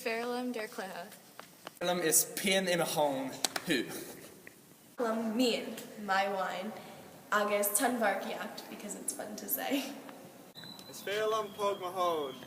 Is fearr liom d'fhear cloiche. Is fearr liom is pian i mo thóin thú. Is fearr liom m'fhíon, my wine, agus tonnmharcaíocht because it's fun to say. Is fearr liom póg mo thóin.